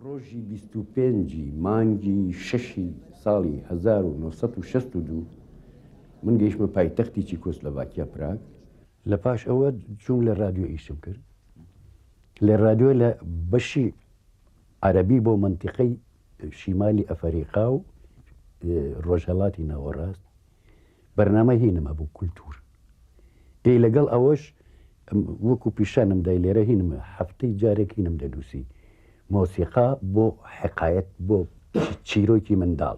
ڕۆژی بیست و پێنج ی مانگی شەش ی ساڵی هەزار و نۆ سەد و شەست و دوو من گەیشتمە پایتەختی چیکۆسلەڤاکیا پراگ، لە پاش ئەوە چووم لە ڕادیۆ ئیشم کرد لە ڕادیۆ لە بەشی عەرەبی بۆ مەنتیقەی شیمالی ئەفەریقا و ڕۆژهەڵاتی ناوەڕاست. بەرنامەی هینم هەبوو کولتوور ئێ لەگەڵ ئەوەش وەکو پیشانم دای لێرە هینم هەفتەی جارێک هینم دەنووسی مۆسیقا بۆ حقایەت بۆ چیرۆکی منداڵ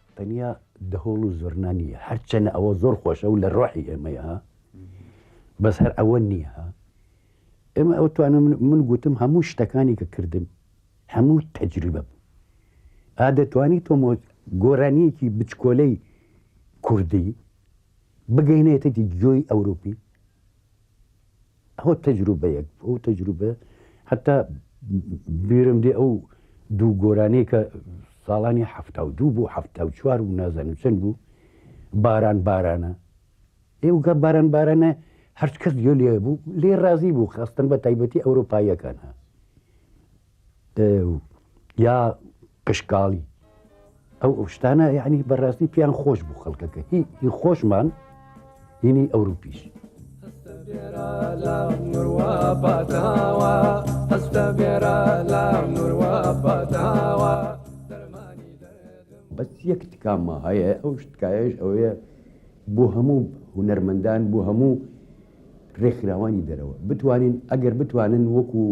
تەنیا دەهۆڵ و زۆرنا نییە هەرچەنە ئەوە زۆر خۆشە و لە ڕۆحی ئێمەیە بەس هەر ئەوە نییە ئێمە ئەو توانە من گوتم هەموو شتەکانی کە کردم هەموو تەجریبە بوو ئا دەتوانی تۆمۆ گۆرانیەکی بچکۆلەی کوردی بگەینێتێتی گوێی ئەوروپی ئەوە تەجروبەیەک ئەو تەجروبە حتا بیرم دێ ئەو دوو گۆرانەیە کە ساڵانی ه دوو بۆ ه چوار و نازانم چەند بوو باران بارانە ئێوگە باران بارانە هەرچ کەس گوێ لێ بوو لێ ڕازی بوو خستن بە تایبەتی ئەوروپاییەکان ها یا قشکاڵی ئەو ئەوشتانە یعنی بەڕاستی پیان خۆش بوو خەڵکەکە هی هی خۆشمان هینی ئەوروپیش. بەس یەک تکامە هەیە ئەو شتکایش ئەوەیە بۆ هەموو هوەرمەندان بۆ هەموو ڕێکخراوانی دەرەوە بتوانین ئەگەر بتوانن وەکو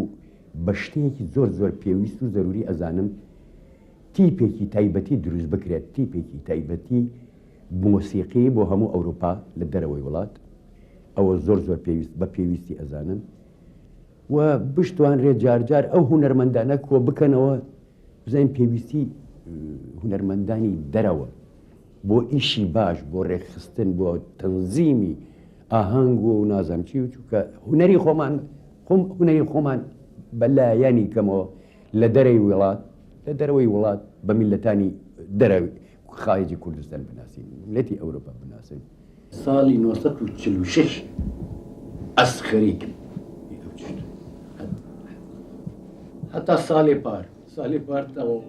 بە شتێکی زۆر زۆر پێویست و زەروری ئەزانم تیپێکی تایبەتی دروست بکرێت تیپێکی تایبەتی مۆسیقی بۆ هەموو ئەوروپا لە دەرەوەی وڵات ئەوە زۆر زۆر پێویست بە پێویستی ئەزانم و بشتوان رێ جارجار ئەو هوەرمەندانە کۆ بکەنەوە بزانین پێویستی هوەرمەندانی دەرەوە بۆ ئیشی باش بۆ ڕێکخستن بۆ تەنزیمی ئاهەنگ و نازانم چی و چونکە هونەری خۆمان خۆم هونەری خۆمان بە لایەنی کەمەوە لە دەرەی وڵات لە دەرەوەی وڵات بە میلەتانی دەرەوی خارجی کوردستان بناسین میلەتی ئەوروپا بناسین ساڵی 1946 ئەسخەری کرد هەتا ساڵێ پار ساڵێ پار تەواو